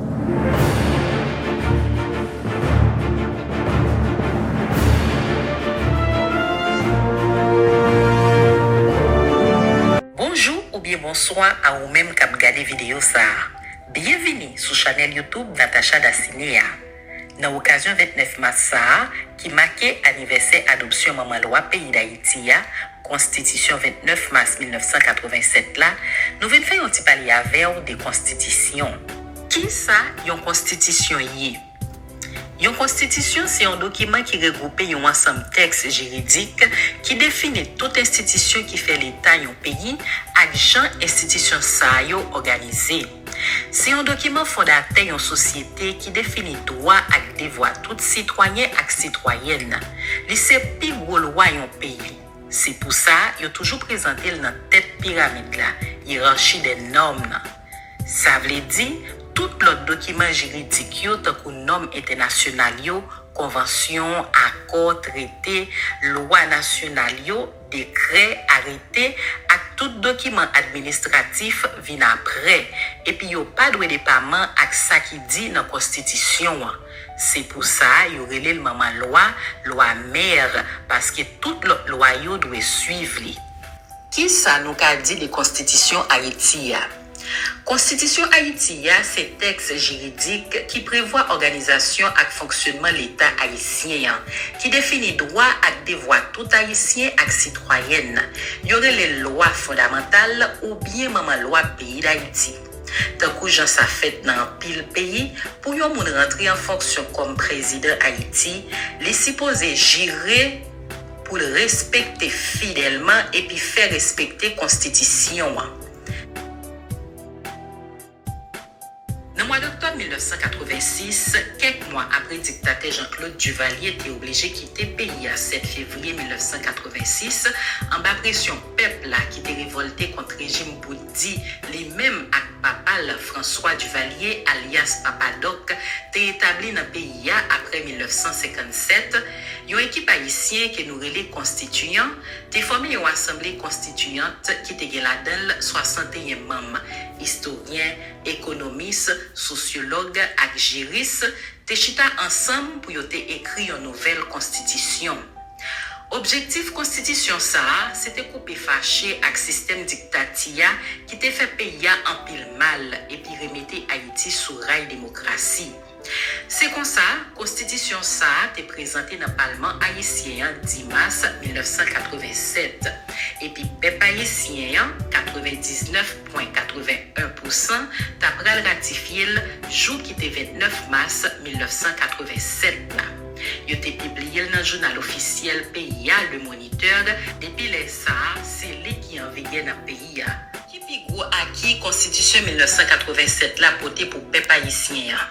Bonjou oubyen bonswa a ou menm kap gade videyo sa. Byenvini sou chanèl YouTube Natacha Daciné a. Nan okazyon 29 mas sa a ki make anivèsè adopsyon manman lwa peyi Dayiti a, Konstitisyon 29 mas 1987 la, nou vin fè yon ti pale avè w de konstitisyon. Kisa yon konstitisyon ye? Yon konstitisyon se yon dokiman ki regwoupe yon ansanm tèks jiridik ki defini tout enstitisyon ki fè Leta yon peyi ak jan enstitisyon sa yo òganize. Se yon dokiman fondatè yon sosyete ki defini dwa ak devwa tout sitwayen ak sitwayèn. Li se pi gwo lwa yon peyi. Se pou sa yo toujou prezante l nan tèt piramid la, hiérarchie des normes, nan. Sa vle di, tout lòt dokiman jiridik yo tankou nòm entènasyonal yo, konvansyon, akò, trete, lwa nasyonal yo, Dekrè, arete, ak tout dokiman administratif vin apre, epi yo pa dwe depaman ak sa ki di nan Konstitisyon an. Se pou sa yo rele l manman lwa, lwa mère, paske tout lòt lwa yo dwe suiv li. Ki sa nou ka di de Konstitisyon Ayiti a? Konstitisyon Ayiti a se tèks jiridik ki prevwa òganizasyon ak fonksyonman Leta ayisyen an, ki defini dwa ak devwa tout Ayisyen ak sitwayèn. Yo rele l lwa fondamantal oubyen manman lwa peyi Dayiti. Tankou jan sa fèt nan anpil peyi, pou yon moun rantre an fonksyon kòm prezidan Ayiti, li sipoze jire pou l respekte fidèlman epi fè respekte konstitisyon an. Nan mwa doktòb 1986, kèk mwa apre diktatè Jean Claude Duvalier te oblije kite peyi a 7 fevriye 1986, anba presyon pèp la ki te revòlte kont rejim bout di li menm ak papa l François Duvalier alyas Papa Dòk te etabli nan peyi a apre 1957, yon ekip ayisyen ke nou rele konstitiyan te fòme yon asanble konstitiyant ki te gen ladan l 61 manm. Istoryen, ekonomis, sosyològ ak jiris te chita ansanm pou yo te ekri yon nouvèl konstitisyon. Objektif konstitisyon sa a se te koupe fache ak sistèm diktati a ki te fè peyi a anpil mal epi remete Ayiti sou ray demokrasi. Se konsa, konstitisyon sa a te prezante nan palman ayisyen an dimas 1987, epi pèp ayisyen an, 99 pwen 81 pousan, ta pral ratifye l jou ki te 29 mas 1987 la. Yo te pibliye l nan jounal ofisyèl peyi a, Le Moniteur, depi lè sa a, se li ki anvigè nan peyi. peyi a. Ki pi gwo aki Konstitisyon 1987 la pote pou pèp ayisyen an?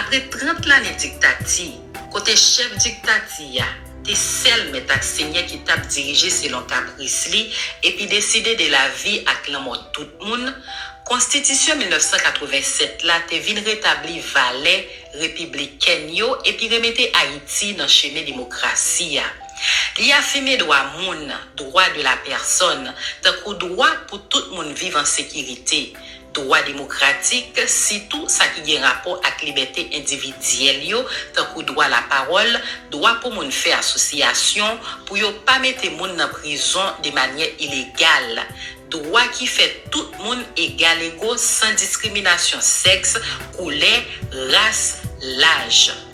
Apre 30 lane diktati, kote chèf diktati a te sèl mèt ak senyè ki t ap dirije selon kapris li epi deside de lavi ak lanmò tout moun, Konstitisyon 1987 la te vin retabli valè repiblikèn yo epi remete Ayiti nan chemen demokrasi a. Li afime dwa moun, droit de la personne, tankou dwa pou tout moun viv an sekirite, dwa demokratik, sitou sa ki gen rapò ak libète endividyèl yo, tankou dwa lapawòl, dwa pou moun fè asosyasyon, pou yo pa mete moun nan prizon de manyè ilegal, dwa ki fè tout moun egalego san diskriminasyon sèks, koulè, ras, laj.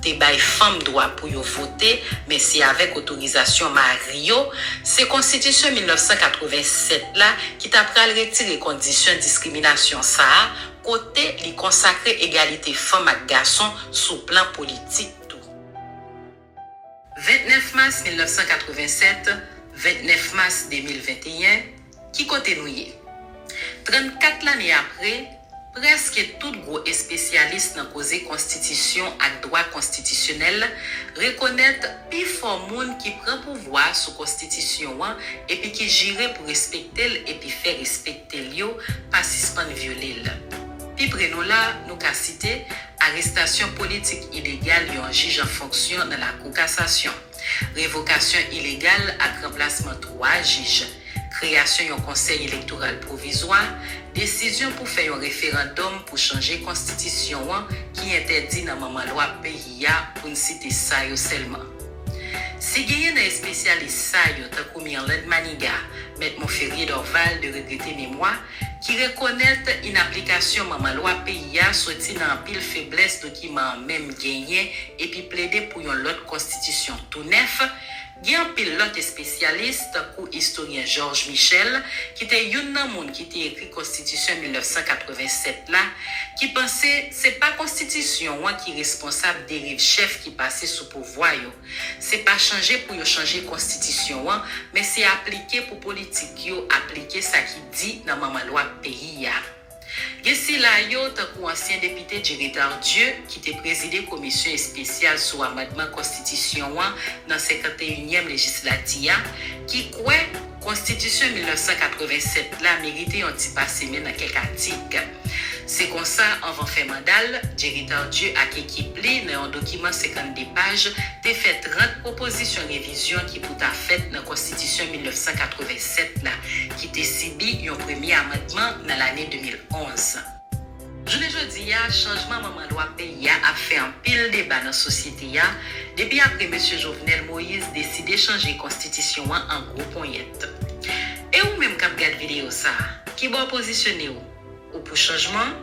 te bay fanm dwa pou yo vote, men se avèk otorizasyon mari yo, se konstitisyon 1987 la ki ta pral retire kondisyon diskriminasyon sa a kote li konsakre egalite fanm ak gason sou plan politik tou. 29 mas 1987, 29 mas 2021. Ki kote nou ye? 34 lane apre, prèske tout gwo espesyalis nan koze konstitisyon ak dwa konstitisyonèl rekonèt pi fò moun ki pran pouvwa sou konstitisyon an epi ki jire pou respekte l epi fè respekte l yo pa sispann vyole l. Pi pre nou la, nou ka site arestasyon politik ilegal yon jij an fonksyon nan Lakou Kasasyon, revokasyon ilegal ak ranplasman 3 jij, kreyasyon yon Konsèy Elektoral Pwovizwa, desizyon pou fè yon referandòm pou chanje konstitisyon an ki entèdi nan manman lwa peyi a pou n site sa yo sèlman. Si genyen nan espesyalis sa yo tankou Myrlande Manigat, Mèt Monferrier Dorval de regrete memwa, ki rekonèt inaplikasyon manman lwa peyi a soti nan anpil feblès dokiman an menm genyen epi plede pou yon lòt konstitisyon tou nèf, gen anpil lòt espesyalis, tankou istoryen Georges Michel, ki te youn nan moun ki te ekri konstitisyon 1987 la, ki panse se pa konstitisyon an ki responsab deriv chèf ki pase sou pouvwa yo. Se pa chanje pou yo chanje konstitisyon an, men se aplike pou politik yo aplike sa ki di nan manman lwa peyi a. Gen sila yo, tankou ansyen depite Jerry Tardieu, ki te prezide komisyon espesyal sou amandman konstitisyon an nan 51 nyèm lejislati a, ki kwè konstitisyon 1987 la merite yon ti pase men nan kèk atik. Se konsa, anvan fen manda l, Jerry Tardieu ak ekip li, nan yon dokiman 52 paj, te fè 30 pwopozisyon revizyon ki pou ta fèt nan Konstitisyon 1987 la, ki te sibi yon premye amandman nan lane 2011. Jounen jodi a, chanjman manman lwa peyi a ap fè anpil deba nan sosyete a, depi apre mesye Jovenel Moïse deside chanje Konstitisyon an an gwo ponyèt. E ou menm k ap gad videyo sa a, ki bò w pozisyone w? ou pou chanjman,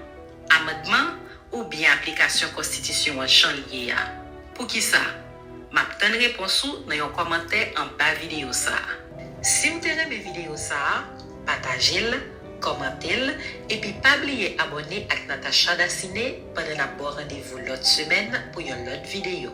amandman oubyen aplikasyon konstitisyon an jan l ye a? Poukisa? M ap tann repons ou nan yon kòmantè anba videyo sa a. Si w te renmen videyo sa a, pataje l, kòmante l, epi pa bliye abòne ak Natacha Daciné pandan n ap ba w randevou lòt semèn pou yon lòt videyo.